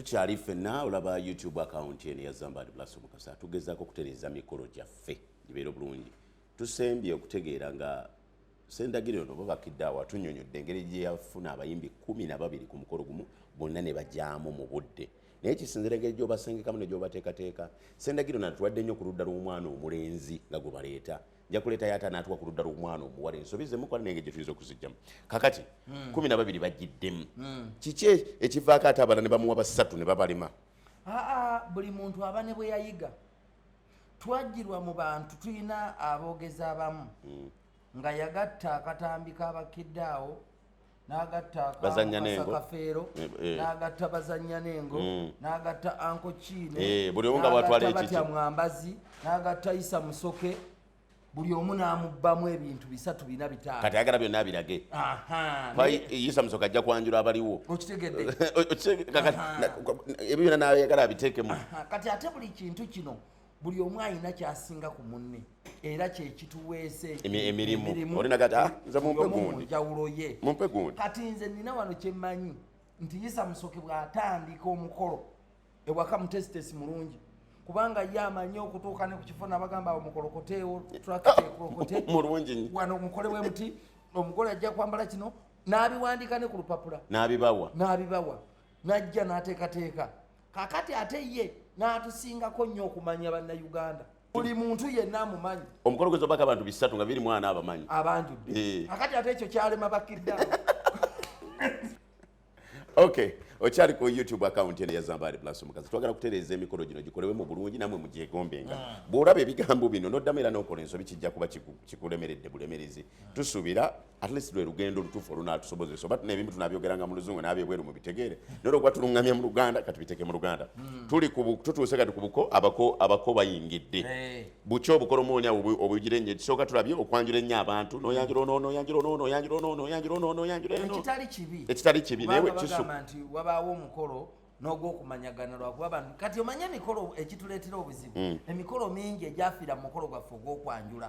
tukyali ffenna olaba youtube akawunti eno yazambad blas omukasa tugezaako okutereeza mikolo gyaffe gibeera obulungi tusembye okutegeera nga sendagiro ono babakidde awo atunyonyodde engeri gyeyafuna abayimbi kumi na babiri ku mukolo gumu bonna ne bajaamu mu budde naye kisinzira engeri gyobasengekamu ne gyobateekateeka sendagiro natuwadde nnyo ku ludda lw'omwana omulenzi nga gwe baleeta nja kuleeta yaata anaatuwa ku ludda lw'omwana omuwala ensobi zemukola nenge gye tuyinza okuzijjamu kakati hmm. kumi na babiri bajjiddemu hmm. kiki e-, ekivaako ate abala ne bamuwa basatu ne babalema aa buli muntu aba ne bwe yayiga twajjirwa mu bantu tulina aboogezi abamu hmm. nga yagatta akatambi k'abakkidde awo n'agatta bazannya n'engo kafeero eh, eh. n'agatta bazannya n'engo mm. n'agatta anko kiine eh, buli omu nga bwatwala ekitya mwambazi n'agatta isa musoke buli omu n'amubbamu ebintu bisatu bina bitaano kati ayagala byonna abirage isa musoke ajja kwanjula abaliwo okitegedde ebyo byonna n'ayagala abiteekemu kati ate buli kintu kino buli omu alina kyasinga ku munne era kyekituweese emirimunjawulo ye kati nze nina wano kyemmanyi nti yisa musoke bw'atandika omukolo ewaka mutesitesi mulungi kubanga ye amanyi okutuuka ne ku kifo nabagamba awo mukolokoteewo trakteekolokotemulungi ah, wano omukole we muti omugole ajja kwambala kino n'abiwandika ne ku lupapula n'abibawa n'abibawa n'ajja n'ateekateeka kakati ate ye n'atusingako nnyo okumanya bannayuganda buli muntu yenna amumanyi omukolo gwe zobaka abantu bisatu nga biri mwana abamanyi abanjudde eh. akati ate ekyo kyalema bakidda ok okyali ku youtube account eno yazambaali plus omukazi twagala kutereeza emikolo gino gikolewe mu bulungi namwe mugyegombenga hmm. bw'olaba ebigambo bino noddamu era n'okola ensobi kijja kuba kikulemeredde bulemerezi hmm. tusuubira at least lwe lugendo olutuufu olunaatusobozesa oba tuna ebimu tunabyogeranga mu luzungu nabyebweru mu bitegeere naye olwokuba tuluŋŋamya mu luganda kati biteeke mu luganda hmm. tuli tutuuse kati ku buko abako abako bayingidde eh. buki obukolomooni awo obuyigire nnyo ekisooka tulabye okwanjula ennyo abantu noyanjula ono noyanjula ono noyanjula ono noyanjula ono noyanjula eno ekitali kibi ekitali kibi naye wekisu nti wabaawo omukolo n'ogwokumanyagana lwakuba abantu kati omanye emikolo ekituleetera obuzibu hmm. emikolo mingi egyafiira mu mukolo gwaffe ogwokwanjula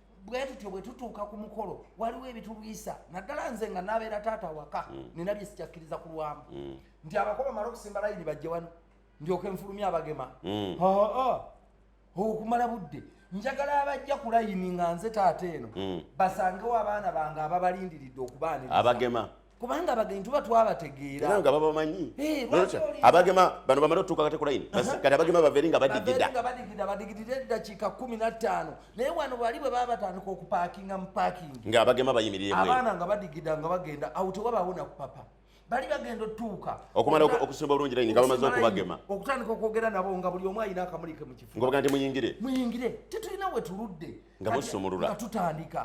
bwe tutyo bwe tutuuka ku mukolo waliwo ebitulwisa naddala nze nga nabeera taata waka mm. nina bye sikyakkiriza ku lwamu mm. nti abako bamala okusimba layini bajje wano ndyoke nfulumya abagema mm. okumala budde njagala abajja ku layini nga nze taata eno basangewo abaana bange ababalindiridde okubaaniriza kubanga abagenyi tuba twabategeera era nga babamanyi eh, abagema bano bamala otuuka kati kulayini kati abagema baveeri nga badigida nga badigida badigidira eddakiika kumi na ttaano naye wano bali bwe baba batandika okupaakinga mu paakingi nga abagema bayimiriremu abaana nga badigida nga bagenda awo tewabaawo nakupapa bali bagenda otuuka okumala okusimba obulungi layini nga bamaze okubagema okutandika okwogera nabo nga buli omu alina akamulike mu kifu ngobaga nti muyingire muyingire tetulina we tuludde nga busumulula nga tutandika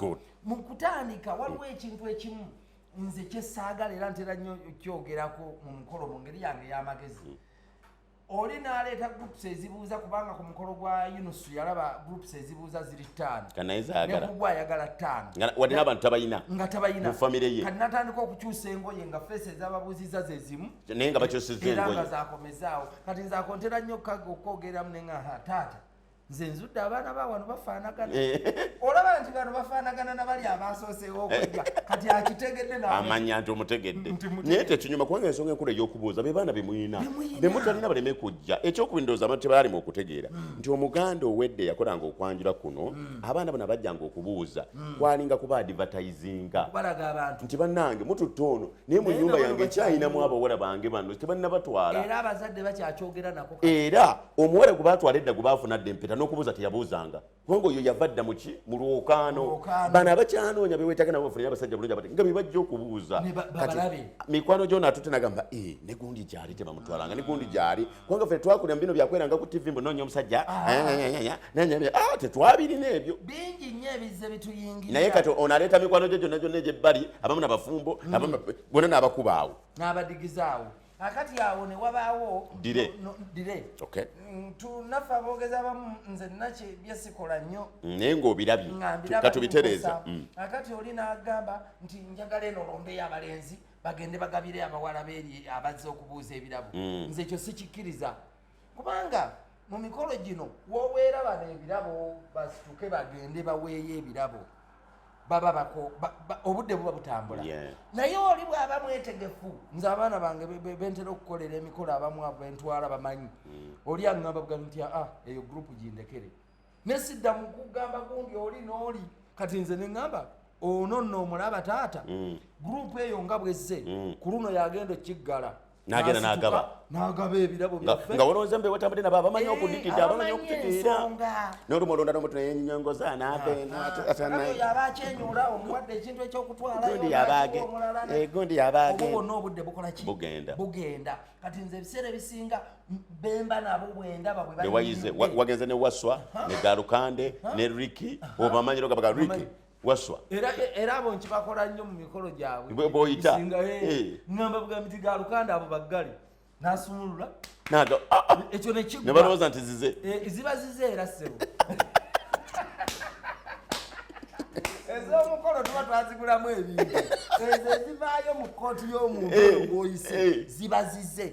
mu kutandika waliwo ekintu ekimu nze kyesaagala era ntera nnyo kyogerako mu mukolo mu ngeri yange ey'amagezi mm. oli n'aleeta groups ezibuuza kubanga ku mukolo gwa yunusu yalaba groups ezibuuza ziri ttaano nekugwa ayagala ttaano wadde n'abantu tabalina nga tabalina mu famire ye kati natandika okukyusa engoye nga feesi ezababuuziza ze zimu naye nga bakyusizza engoye era nga zakomezaawo kati nze akontera nnyo okwogereramu ne nga taata nze nzudde abaana ba wano bafaanagana eh. olaba nti bano bafaanagana na bali abasooseewo okujja kati akitegedde amanya nti omutegedde naye tekinyuma kubanga ensonga enkulu ey'okubuuza be baana bemuyina bemutalina baleme kujja ekyokubiri ndowooza abantu tebaalimu okutegeera hmm. nti omuganda owedde yakolanga okwanjula kuno hmm. abaana bano abajjanga okubuuza hmm. kwalinga kuba adivatayizinga nti bannange mututte ono naye mu nyumba yange ekyayinamu abawala bange bano tebannabatwala era omuwala gwe batwala edda gwe baafuna dda empeta n'okubuuza teyabuuzanga kubanga oyo yava dda muki mu lwokaano bano abakyanoonya bewetaaga nabo bafunire abasajja bulungi abati nga bebajja okubuuza kati mikwano gyona atute nagamba e eh, ne gundi gyali tebamutwalanga ne gundi gyali kubanga ffe twakulira mu bino byakweranga ku tv mbu noonya omusajja ah. ah, tetwabirina ebyo bingi nnyo ebizze bituyingira naye kati ono aleeta mikwano gye gyonna gyonna egyebbali abamu nabafumbo bona nabakubaawo nabadigizaawo akati awo ne wabaawo dire no, no, dire okay. Mm, tunafa aboogezi abamu nze naki byesikola nnyo mm, naye ng'obirabye kyokka tubitereeza mm. akati oli n'agamba nti njagala eno lombeyo abalenzi bagende bagabire abawala beeri abazze okubuuza ebirabo mm. nze ekyo sikikkiriza kubanga mu mikolo gino woweera bano ebirabo basituke bagende baweeyo ebirabo baba bako obudde buba butambula naye oli bwaba mwetegefu nze abaana bange bentera okukolera emikolo abamu abo bentwala bamanyi mm. oli aŋamba bugani nti aa ah, eyo gurupu gindekere ne sidda mu kugamba gundi oli n'oli kati nze ne ŋŋamba ono nno omulaba taata mm. gurupu eyo nga bwezze mm. ku luno yagenda ekiggala nagenda nagaba nagaba ebirabo byaffe nga wolowooza mbe wetambadde nabo abamanyi eh, okudikidde abamanyi okutikiira noluma olonda nomuntu neyenyongoza nabenaatanayoyaba ah, akyenyula omuwadde ekintu ekyokutwalagundi yaba agenda bugenda kati nze ebiseera ebisinga bemba nabo bwendaba bwe wayize wagenze ne waswa ne galukande ne riki obamanyiro gabaga riki waswa era era abo nkibakola nnyo mu mikolo gyabwe boyita ngamba eh. bugambi ti galukande abo baggali nasumulula naga ah, ah. ekyo nekigwa ne balowooza nti zize eh, ziba zize era sebo ez'omukolo tuba twazigulamu ebintu ezo ezivaayo mu kkooti y'omuntu eh, ng'oyise ziba zize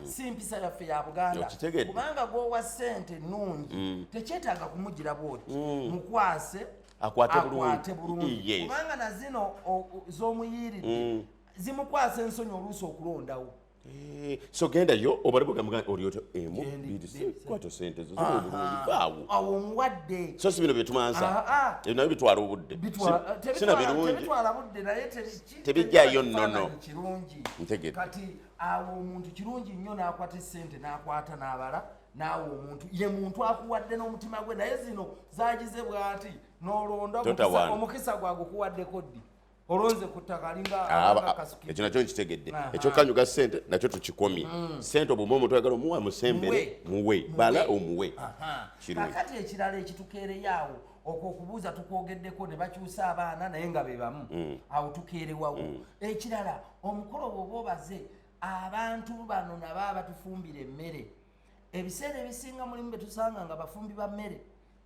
mm. si mpisa yaffe ya buganda kubanga gwowa sente nungi mm. tekyetaaga kumugira bwoti mm. mukwase akwate bulungi kubanga nazino zomuyiiridde zimukwasa ensonyi oluusi okulondawo Eh, so genda yo obale bugamba gani olyoto emu eh, bidisikwata sente zo zobulungi awo muwadde so si bino byetumansa ah, ah. ebyo nabyo bitwala obudde eh, sina birungi tebijjayo nnono ntegere kati awo omuntu kirungi nnyo n'akwata esente n'akwata n'abala naawe omuntu ye muntu akuwadde n'omutima gwe naye zino zagize bwati nolonda omukisa gwagukuwaddeko ddi olonze ku ttaka alingaekyo ah, nakyo nkitegedde ekyokanyuga sente nakyo tukikomye mm. sente obuma omuntu ayagala omuwa musembere muwe bala omuwe kakati ekirala ekitukeereyaawo okwo okubuuza tukwogeddeko ne bakyusa abaana naye nga be bamu mm. awo tukeerewawo mm. ekirala omukolo bwoba obaze abantu bano nabo abatufumbira emmere ebiseera ebisinga mulimu betusanga nga bafumbi ba mmere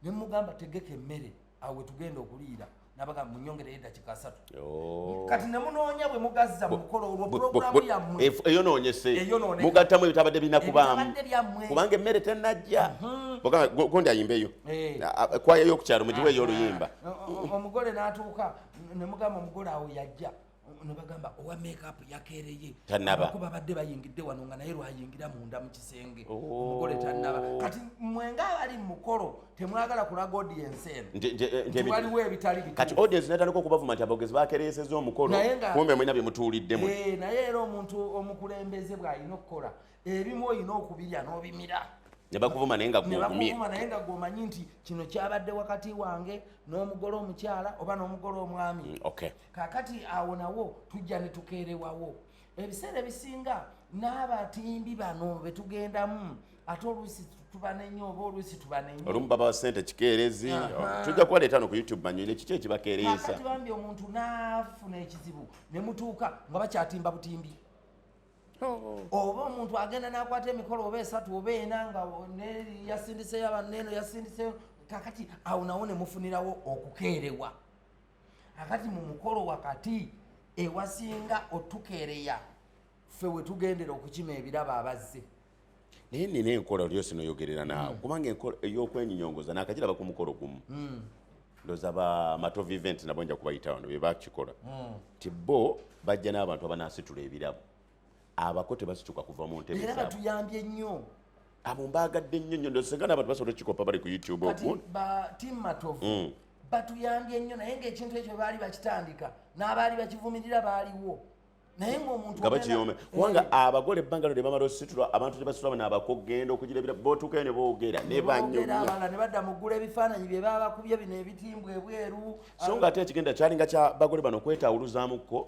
nemugamba tegeka emmere awo wetugenda okuliira nabaga munyongere yeda kikasatu oh. kati ne munonya bwe mugazza mukolo olwo program ya mwe eyo nonye se mugatta mwe bitabade bina kubamu kubange mere tenajja mhm. boka gondi ayimbe yo eh. kwa yo kucharo mujiwe yo luyimba omugole natuka ne mugamba omugole awo yajja nabagamba owa makeup yakereye tanaba kuba badde bayingidde wano nga naye lwayingira munda mu kisenge oh. omugole tanaba kati mwenga abali mukolo temwagala kulaga audience eno waliwo ebitali bituufu kati audience natandika okubavuma nti abogezi bakereyeseza omukolo kumbe mwena bye mutuuliddemu eh, naye era omuntu omukulembeze bw'alina okukola ebimu olina okubirya n'obimira nebakuvuma naye nga gwogumyebakuvuma naye nga gwomanyi nti kino kyabadde wakati wange n'omugole omukyala oba n'omugole omwami mm, okay. kakati awo nawo tujja netukeerewawo ebiseera ebisinga n'abatimbi bano betugendamu ate oluusi tubanenya oba oluusi tubanenya olumu baba sente kikeerezi tujja kubaleeta no ku youtube banyuire kiki ekibakeereesa bambi omuntu n'afuna ekizibu ne mutuuka nga bakyatimba butimbi Oh. oba omuntu agenda nakwata emikolo oba esatu oba ena nga yasindiseyo abaneno yasindiseyo kakati awo nawo nemufunirawo okukeerewa akati mu mukolo wakati ewasinga otukeereya ffe wetugendera okukima ebirabo abazze naye nina enkola olyo sinoyogerera naawe mm. kubanga enkola eyokwenyinyongoza nakagiraba ku mukolo gumu mm. ndoza ba matov event nabo nja kubayita wano bebakikola mm. ti bo bajja n'abantu abanasitula ebirabo abako tebasituka kuva mu ntebe era batuyambye nnyo abo mbaagadde nnyo nnyo ndosenga n'abantu basobola okukikopa bali ku youtube batuyambye nnyo naye ngaekintu ekyo baali bakitandika n'abaali bakivumirira baaliwo nga bakiyoome kubanga eh. abagole ebbanga lyo lyebamala ositula abantu tebasitula bana abakugenda okugira ebira botuukayo ne boogera ne banyumya ne badda mu ggula ebifaananyi bye baba bakubye bino ebitimbwa ebweru so nga ate ekigenda kyalinga kya bagole bano kwetawuluzamukko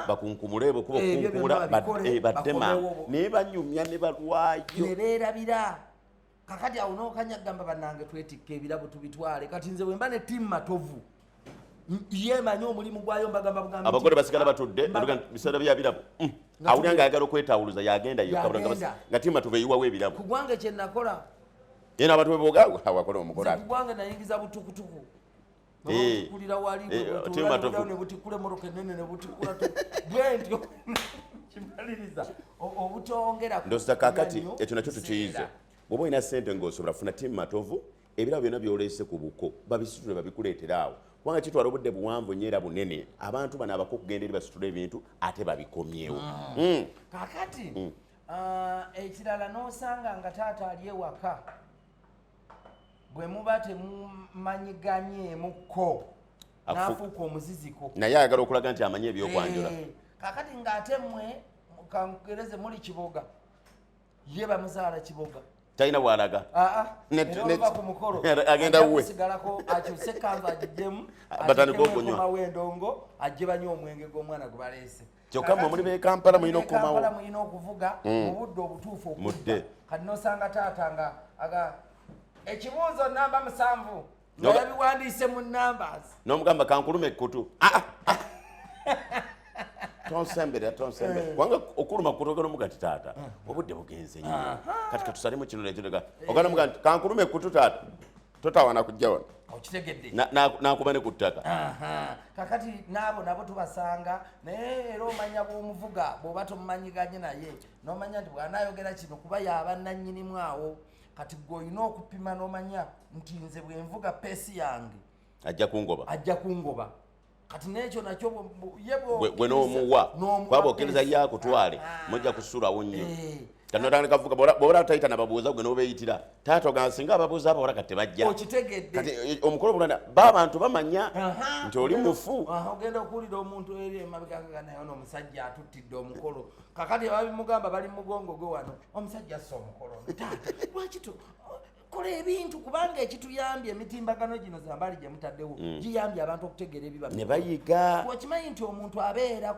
bakunkumule bwe kuba eh, okunkumula eh, baddema naye banyumya ne balwayo ne beerabira kakati awo nokanya gamba banange twetikka ebirabo tubitwale kati nze wemba ne timu matovu yemanyi omulimu gwayo mbagamba bugambi abagole basigala batudde biseera bya birabo mm. awulira nga ayagala okwetawuluza yagenda nga timu matovu eyiwawo ebirabo kugwange kyenakola yena abantu beboga wakola omugole kugwange nayingiza butukutuku babakulira eh. wali eh, webutuula nebutikula emoroka enene nebutikula bwentyo kimaliriza obutongera ndoza kakati ekyo nakyo tukiyize bwoba olina sente ngaosobola funa timu matovu ebirabo byonna byoleese ku buko babisitule babikuleetera awo kubanga kitwala obudde buwanvu nyo era bunene abantu bano abako okugenda eri basitula ebintu ate babikomyewo ah. hmm. kakati hmm. Ah, ekirala nosanga nga taata ali ewaka bwe muba temumanyiganyeemukko nafuuka omuziziko naye ayagala okulaga nti amanyi ebyokwanjula eh, kakati ngaate mwe kangereze muli kiboga ye bamuzaala kiboga talina bwalaga agenda wuwesigalako akyuse kanva agiddemu batandika okunywa endongo ajje banywa omwenge gw'omwana gwe baleese kyokka mwe muli bekampala mulina okukomawo mulina okuvuga mm. mu budde obutuufu okudde kati nosanga taata nga aga ekibuuzo namba musanvu nabiwandiise mu numbers nomugamba kankulume ekkutu ah, ah, ah. tonsembere tonsembere eh. kubanga okuluma kutogera omuga nti taata eh. obudde bugenze nnyo kati katusalemu kino nekyo ogana muga nti kankulume ekkutu taata totawana kujja wano okitegedde nakuba ne ku ttaka kakati naabo nabo tubasanga naye era omanya bwomuvuga bwoba tomumanyiganye naye nomanya nti bwanayogera kino kuba yaba nanyinimu awo kati gwe olina okupima nomanya nti nze bwenvuga peesi yange ajja kungoba ajja kungoba kati nekyo nakyo gwe n'omuwa kwaba okkiriza ye akutwale ah, ah. mujja kusulawo nnyo eh. kanotandika kuvuga bwobala tayita nababuuza gwe nobeyitira taata ogamba singa ababuuza abawala kati tebajja okitegedde eh, omukolo bulanda ba abantu bamanya nti oli mufu ogenda okuwulira omuntu eri emabegagaga naye ono omusajja atuttidde omukolo kakati ababimugamba bali mugongo gwe wano omusajja assa omukolo taata lwaki kola ebintu kubanga ekituyambye emitimbagano gino zambaali gye mutaddewo mm. giyambye abantu okutegeera ebiba ne bayiga okimanyi nti omuntu abeera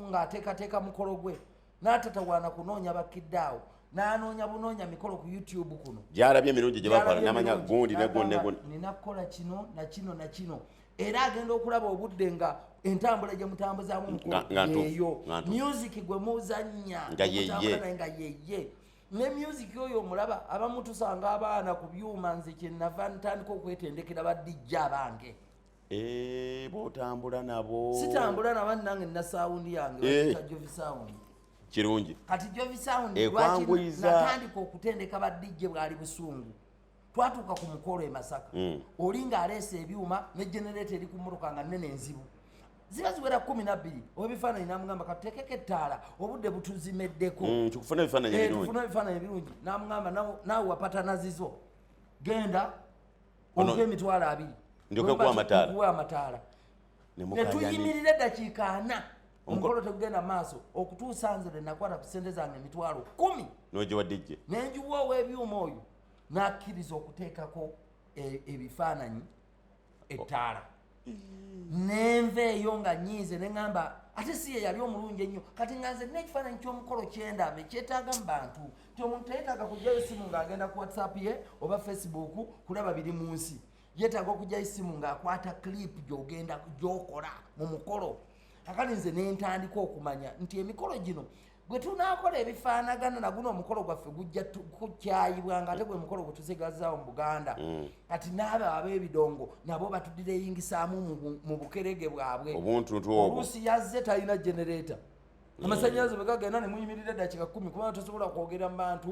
ng'ateekateeka mukolo gwe n'atatawaana kunoonya bakkidde awo n'anoonya bunoonya mikolo ku youtube kuno gyalabye emirundi gye bakola n'amanya gundi ne gundi ne gundi nina kukola kino na kino na kino era agenda okulaba obudde nga entambula gye mutambuzaamu mukolo yeeyo music gwe muzannya nga yeye ne music oyo omulaba abamu tusanga abaana ku byuma nze kyenava ntandika okwetendekera badijja abange eh, botambula nabo sitambula nabo nange nina sawundi yange eh. jovi sawundi kirungi kati jovi sawundi eh, lwakinatandika okutendeka badijje bwali busungu twatuuka ku mukolo e masaka mm. oli nga aleesa ebyuma ne genereeta eri ku mmotoka nga nene enzibu ziba ziwera kumi nabbiri owebifaananyi namugamba katutekeko ettaala obudde butuzimeddeko mm, tukufuna ebifaananyi eh, ebirungi namugamba naawe wapatana zizo genda ompe emitwalo abiri ndyokeku amataala netuyimirira eddakiika ana omukolo tegugenda maaso okutuusa nze lwenakwata ku sente zange emitwalo kumi nogiwadijje nenjiwa owebyuma oyo nakkiriza okuteekako e, ebifaananyi ettaala nenva eyo nga nyiize neŋamba ate si ye yali omulungi ennyo kati nga nze nina ekifaananyi ky'omukolo kyendaba ekyetaaga mu bantu nti omuntu teyetaaga kugyayo esimu ng'agenda ku whatsapp ye oba facebook kulaba biri mu nsi yetaaga okugyayo esimu ng'akwata clip gyogenda gyokola mu mukolo kakati nze nentandika okumanya nti emikolo gino bwe tunaakola ebifaanagana na guno omukolo gwaffe gujja kukyayibwa nga ate gwe mukolo gwe tusigazaawo mu buganda mm. kati naabo ab'ebidongo nabo batudira eyingisaamu mu bukerege bwabwe oluusi yazze talina genereeta mm. amasanyalaze bwe gagenda ne muyimirira eddakiika kkumi kubanga tosobola kwogera mu bantu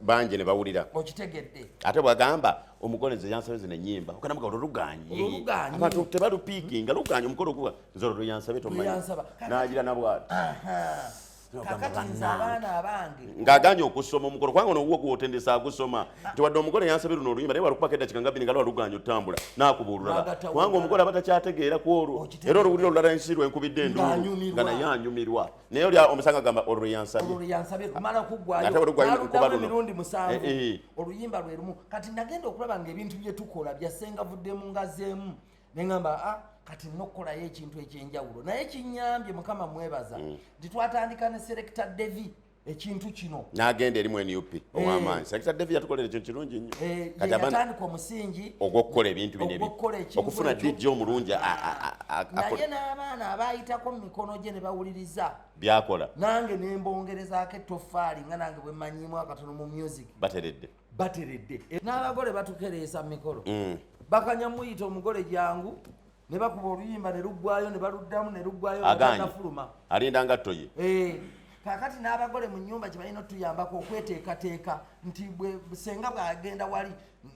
bangi ne bawulira okitegedde ate bwagamba omugole nze yansabe zino ennyimba okanamuga olwo lugaanyi abantu tebalupiikinga lugaanyi omukolo guba nzolo lweyansabye tomanyansaba nagira nabwati ng'aganye okusoma omukolo kubanga nowuwo gwotendesa agusoma nti wadde omugole yansabye luno oluyimba naye walukubako eddakika nga bbiri nga lwaluganya otutambula nakubuululala kubanga omugole aba takyategeera ku olwo era oluwulira olulala ensi lwenkubidde enduulu nga naye anyumirwa naye oli omusanga gamba olwo lweyansabye oluyimba lwerumu kati nagenda okulaba nga ebintu byetukola byasengavuddemu ngazeemu neŋamba a ah, kati nina okukolayo ekintu ekyenjawulo naye kinyambye mukama mwebaza mm. nti twatandika ne selecta devi ekintu kino nagenda erimu nup eh. owamaanyi selecta devi yatukolera ekyo kirungi nnyo eh, yatandika omusingi ogwokukola ebintu binokufuna dj omulungi naye n'abaana abayitako mu mikono gye ne bawuliriza byakola nange nembongerezaako ettofaali nga nange bwemanyiimu akatono mu music bateredde bateredde n'abagole batukereesa mikolo mm. bakanya muyita omugole jangu ne bakuba oluyimba ne luggwayo ne baluddamu ne luggwayo aganafuluma alinda nga toye eh, kakati n'abagole mu nyumba kye balina otuyambako okweteekateeka nti senga bwagenda wali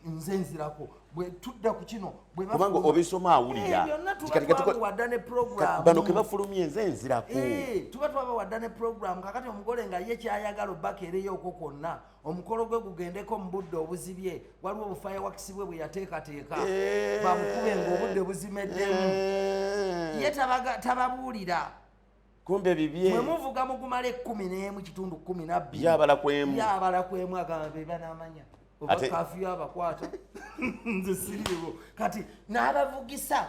nze nzirako bwetudda ku kino bwekubanga obisoma awulirawadda eh, ne programbano kebafulumye enze enzirako eh, tuba twabawadda ne programu kakati omugole nga ye kyayagala obbakeereyo okwo kwonna omukolo gwe gugendeko mu budde obuzibye waliwo obufaya wakisi bwe bwe yateekateeka eh. bamukube ngaobudde buzimeddemu eh. ye tababuulira kumbe bibye mwe muvuga mugumala ekkumi n'emu kitundu kkumi nabbiri yabala kwemu yabala kwemu agamba be banamanya obakafiyo abakwata nze siriiwo kati n'abavugisa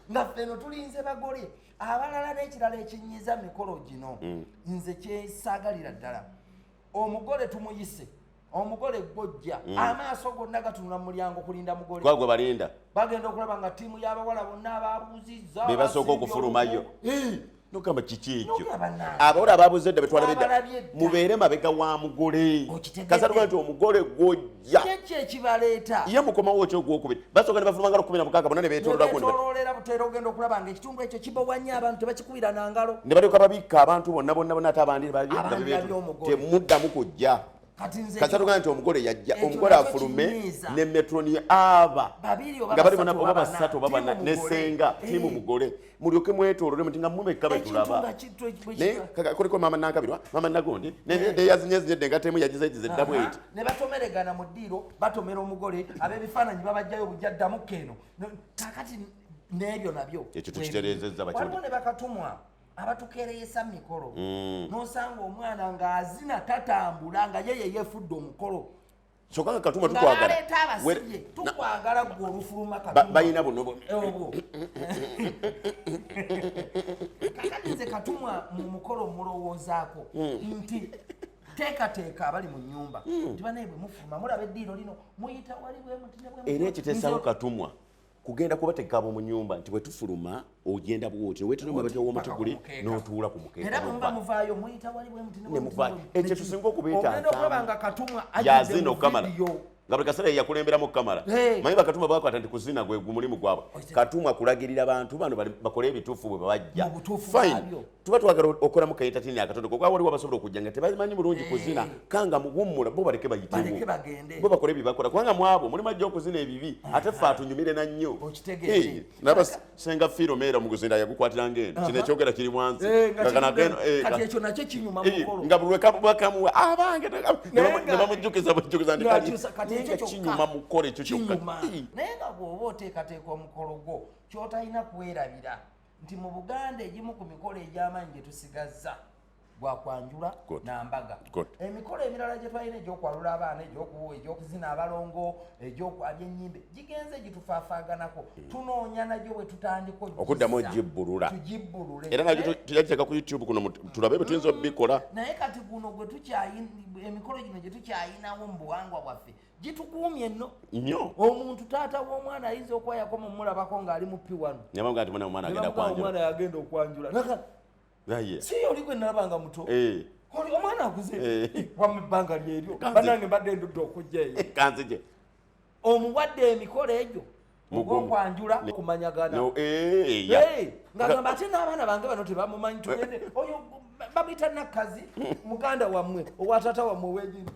nga ffe no tulinze bagole abalala n'ekirala ekinyiza mikolo gino mm. nze kyesaagalira ddala omugole tumuyise omugole gwojja mm. amaaso gonna gatunula mu mulyango kulinda mugole gwagwe balinda bagenda okulaba nga ttiimu y'abawala bonna ababuuzizza bebasooka okufulumayo nogamba kiki ekyo abawala ababuze dda betwala bedda mubeere mabega wa mugole kasatuga nti omugole gwojja ye mukomawo ki ogwokubiri basooka ne bafuluma ngalo kumi na mukaaga bona ne betololagoogenda okulaba nga ekitundu ekyo kibowa nnyo abantu tebakikubira na ngalo ne balyoka babikka abantu bonna bonna bona ate abandi temuddamu kujja kati atugamba nti omugole yajja omugole afulume ne metroni aba nga bali bona oba basatu oba bana nesenga tiimu eh. mugole mulyoke mwetolole muti nga mumekka betulaba naye kuliko mama nakabirwa mama nagondi neyazinyezinyedde eh. nga temu yagizegize eddamu eti ne batomeregana mu ddiiro batomera omugole abebifaananyi babajjayo obujja ddamu keno kakati n'ebyo nabyo ekyo tukitereezezza bakyo ne bakatumwa abatukereyesa mikolo mm. nosanga omwana ng'azina tatambula nga yeye yefudde omukolo kyoka nga katumba tukwagalaeta abasibye tukwagala gwe olufuluma balina buno obwo kakatize katumwa mu mukolo omulowoozaako mm. nti teekateeka abali mu nyumba mm. nti banaye bwe mufuluma mulaba eddiiro lino muyita wali bwemuti era ekitesawo katumwa kugenda kubateeka ab'omu nyumba nti bwe tufuluma ogenda bwoti nowetera omabega w'omutiguli n'otuula ku mukeekaekyo tusinga okubeetayazina okukamala nga buli kaseera yeyakulemberamu okukamala manyi bakatuma bakwata nti kuzina gwe gumulimu gwabwe katuma kulagirira bantu bano bakole ebituufu bwe babajja fine tuba twagala okolamu kaentatini akatono kokuba waliwo abasobola okujja nga tebamanyi bulungi eh. kuzina kanga muwummula bo baleke bayitebo bakole byebakola kubanga mwabo mulimu ajja okuzina ebibi eh. ate fe atunyumire na nnyo eh, naba senga fiiro meera mu kuzina yagukwatiranga eno kino ekyogera kiri mwanzi nga bulwekamuwa abange nebamujjukiza bujjukiza ndikainga kinyuma mukole ekyo kyokka naye nga bwoba oteekateeka omukolo gwo kyotalina kwerabira nti mu buganda egimu ku mikolo egy'amaanyi gye tusigazza gwa kwanjula na mbaga emikolo emirala gye twalina egyokwalula abaana egyokuzina abalongo egyokwabya ennyimbe gigenze gitufaafaaganako hmm. tunoonya nagyo bwe tutandika okuddamu ogibbulula tugibbulule era nagyo tujagiteeka ku youtube kuno tulabe bwe tuyinza obikola hmm. naye kati guno gwe tukyayina emikolo gino gye tukyayinawo mu buwangwa bwaffe gitukuumye no nyo omuntu taata w'omwana ayinza okuba yakoma omulabako ng'ali mupi wano nabanga nti mwana omwana agenda kwanjula omwana yagenda okwanjula naka naye si oli gwe nalaba nga muto eh oli omwana akuze eh. eh, wamu ebbanga lyeryo banange mbadde ndudde okujja eyo eh, kanzije omuwadde emikolo egyo mugwokwanjula kumanyagana eh, ngagamba ate n'abaana bange bano tebamumanyi eh. tugende oyo bamuyita nakkazi muganda wammwe owatata wammwe wegini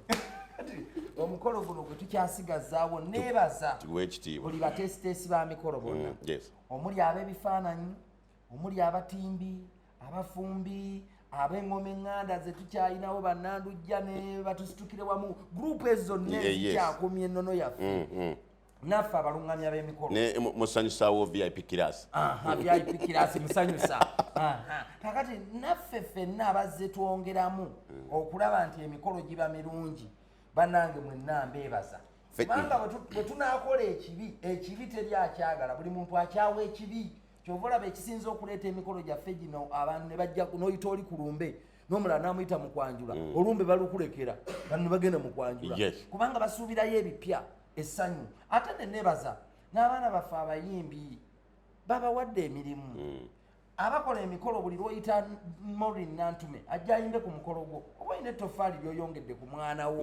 omukolo guno gwe tukyasigazaawo nebaza buli batesiteesi ba mikolo bonna mm, omuli ab'ebifaananyi omuli abatimbi abafumbi ab'engoma eŋŋanda ze tukyalinawo bannandujja ne batusitukire wamu gurupu ezo nne zikyakumya ennono yaffe mm, mm. naffe abalungamya b'emikolo musanyusaawo vip kirasi vip kirasi musanyusa kakati naffe fenna abazze twongeramu hmm. okulaba nti emikolo giba mirungi banange mwenna mbeebaza kubanga bwe tunaakola ekibi ekibi teri akyagala buli muntu akyawa ekibi kyova olaba ekisinza okuleeta emikolo gyaffe gino abantu ne bajja n'oyita oli ku lumbe nomulala namuyita mukwanjula mm. olumbe balukulekera bano bagenda mukwanjula kubanga basuubirayo ebipya essanyu ate ne nebaza n'abaana baffe abayimbi babawadde emirimu hmm. abakola emikolo buli lwoyita morin nantume ajja ayimbe ku mukolo gwo oba olina ettofaali lyoyongedde ku mwana wo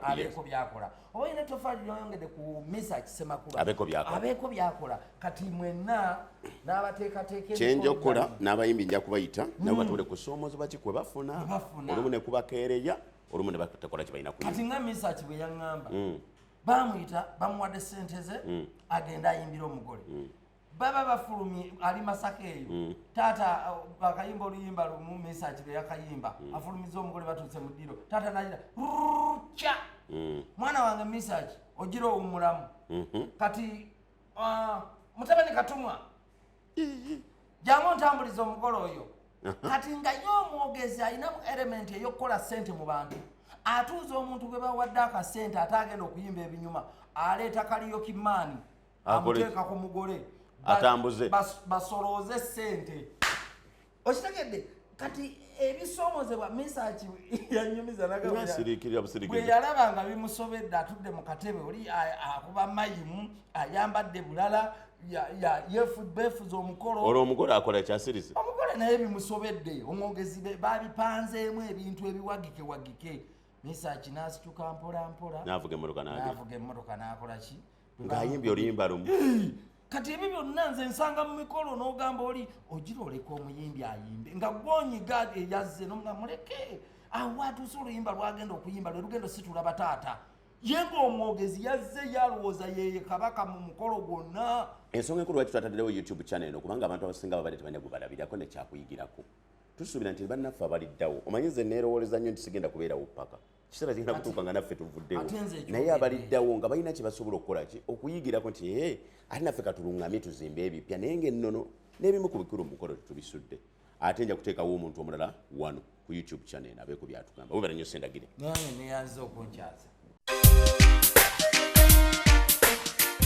abeeko byakola oba olina ettofaali lyoyongedde ku misa kisemakulu abeeko byakola kati mwenna kyenja okukola n'abayimbi nja kubayita nabo hmm. batule kusoomoozebwa ki kwe bafuna olumu ne kubakeereya olumu ne batekola kye balina kati nga misaki bwe yaŋŋamba mm. bamuyita bamuwadde ssente ze mm. agenda ayimbira omugole mm. baba bafulumye ali masaka eyo mm. taata uh, akayimba oluyimba lumu mesaki beyakayimba mm. afulumiza omugole batuuse mu ddiro taata nagira rca mm. mwana wange mesaki ogira owumulamu mm -hmm. kati uh, mutabani katumwa jamu ntambuliza omugole oyo kati nga ye omwogezi alinamu elementi eyokukola sente mu bantu atuuza omuntu gwe bawadde akasente ate agenda okuyimba ebinyuma aleeta kaliyo kimaani amuteeka ku mugole atambuze basolooze sente okitegedde kati ebisomozebwa misaki yanyumiza nagabweyalaba nga bimusobedde atudde mu katebe oli akuba mayimu ayambadde bulala yefubefuza omukolo olwo omugole akola kyasirize omugole naye bimusobedde omwogezi babipanzeemu ebintu ebiwagike wagike misaki nasituka mpolampola navuga emmotoka nakolaki ng'ayimbye oluyimba lumu kati ebyo byonna nze nsanga mu mikolo n'ogamba oli ogira oleka omuyimbi ayimbe nga gwonyiga eyazze nomga muleke awo atuuse oluyimba lwagenda okuyimba lwe lugendo situla bataata ye ng'omwogezi yazze yalowooza yeye kabaka mu mukolo gwonna ensonga enkulu lwaki twataddewo youtube channel eno kubanga abantu abasinga babadde tebalina gubalabirako nekyakuyigirako tusuubira nti bannaffe abaliddawo omanyi nze neerowooleza nnyo nti sigenda kubeerawo paka kiseera kigenda kutuuka nga naffe tuvuddewo naye abaliddawo nga balina kye basobola okukola ki okuyigirako nti ee eh, ate naffe katulungamye tuzimbe ebipya naye ngaennono n'ebimu ku bikulu mukolo tetubisudde ate nja kuteekawo omuntu omulala wano ku youtube channel abeeko byatugamba webera nyo sendagire neyanze okunkyaza